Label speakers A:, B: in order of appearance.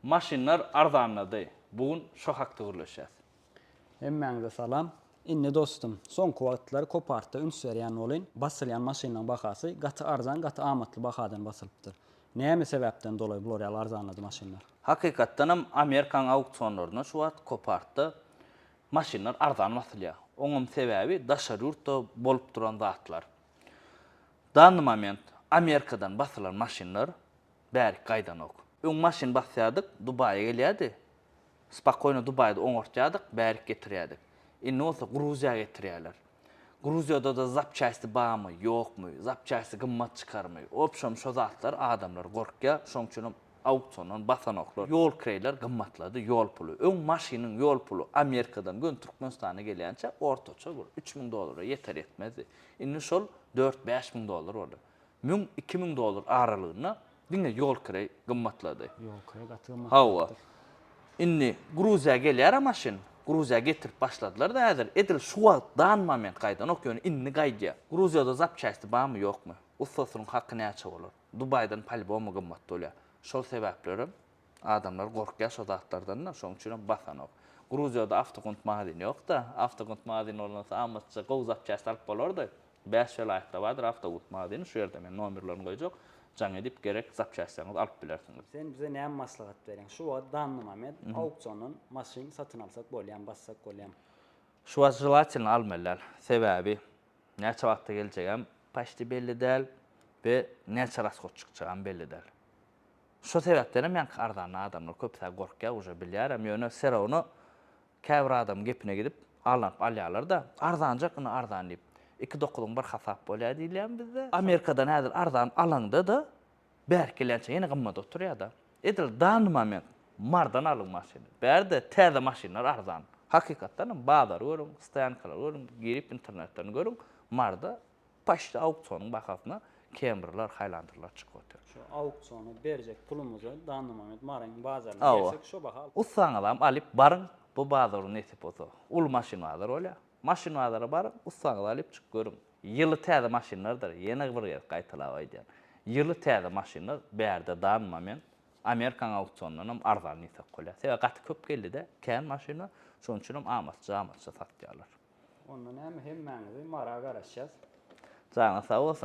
A: Maşynlar arzanlady. Bu gün şo hakda gürleşýäs. Hemmäňize salam. Indi dostum, soňky wagtlar kopartda üns berýän bolyn, basylýan maşynlaryň bahasy gaty arzan, gaty amatly bahadan basylypdyr. Näme sebäpden dolaý bular ýaly arzanlady maşynlar? Hakykatdanam Amerikaň auksionlarynda şu wagt kopartda maşynlar arzan basylýar. Oňam sebäbi daşary ýurtda bolup duran zatlar. Danyy moment Amerikadan basylan maşynlar Bärik gaýdanok. Öň maşyn basýardyk, Dubaýa gelýärdi. Spakoýno Dubaýda oňartýardyk, bärik getirýärdik. Indi bolsa Gruziýa getirýärler. Gruziýada-da zapçasti barmy, ýokmy, zapçasti gymmat çykarmy, obşem şo zatlar adamlar gorkýar, şoň üçinem auksiondan basanoklar. Ýol kireýler gymmatlady, ýol puly. Öň maşynyň ýol puly Amerikadan göni Türkmenistana gelýänçä ortaça bir üç müň dollara ýeter-ýetmezdi. Indi şol dört-bäş müň dollar boldy. Müň iki müň dollar aralygynda diňe ýol kireý gymmatlady. Ýol kireý gaty gymmat. Hawa. Indi Gruziýa gelýärä maşyn. Gruziýa getirip başladylar da häzir. Edil şu wagt dan moment gaýdanok ýöne indi gaýdýa. Gruziýada zapçaýsti barmy ýokmy? Ussasynyň haky näçe bolar? Dubaýdan polýbomy gymmat bolýa. Şol sebäplerem adamlar gorkýa şo zatlardan da şoň üçinem basanok. Gruziýada awtogunt magazin ýok da. Awtogunt magazin bolnasa amatça gowy zapçaýst alyp bolardy. Bäş welaýatda bardyr awtobus magazyny şu ýerde men nomerlerini goýjak jaň edip gerek zapçastlaryňyzy alyp bilersiňiz. Sen bize näme maslahat bereň? Şu wagt Dannymamed auksiondan maşyn satyn alsak bolýamy, bassak bolýamy? Şu wagt želatelno almaly däl. Sebäbi näçe wagtda geljegem paçti belli däl we näçe raskot çykjagam belli däl. Şo sebäpdenem ýaňky arzandan adamlar köpüsi gorkýar uje bilýärem ýöne serawno Käbir adam gepine gidip, aldanyp alýarlar-da, arzanjak indi arzan diýip. Iki dokuzyň bir hasap bolýar diýilýärmi bizde? Amerikadan häzir arzan alaňda-da, bärik gelýänçä ýene gymmat oturýar-da. Edil dany moment, mardan alyň maşyny. Bärde täze maşynlar arzan. Hakykatdanam, bazary görüň, stoýankalary görüň, girip internetden görüň, marda. Başda auksionuň bahasyna kemriler, haýlandyrlar çykyp otyr. Şu auksiona berjek pulumyzy Dannamomed Marine bazaryna bersek şo baha alyp. Ussaňyzam alyp baryň bu bazary nesip bolsa. Uly maşyn bazary bolýar. Maşyn bazara baryň, ussaňyzy alyp çykyp görüň. Ýyly täze maşynlardyr, ýene bir gezek gaýtalap aýdýan. Ýyly täze maşynlar bärde Dannamoment, Amerikan auksionyndanam arzan diýsek bolýar. Sebäbi gaty köp geldi-de, kän maşynlar, şonuň üçinem amatça-amatça satýarlar. Onda näme hemmäňizi mara garaşýas. Janyňyz sag bolsun.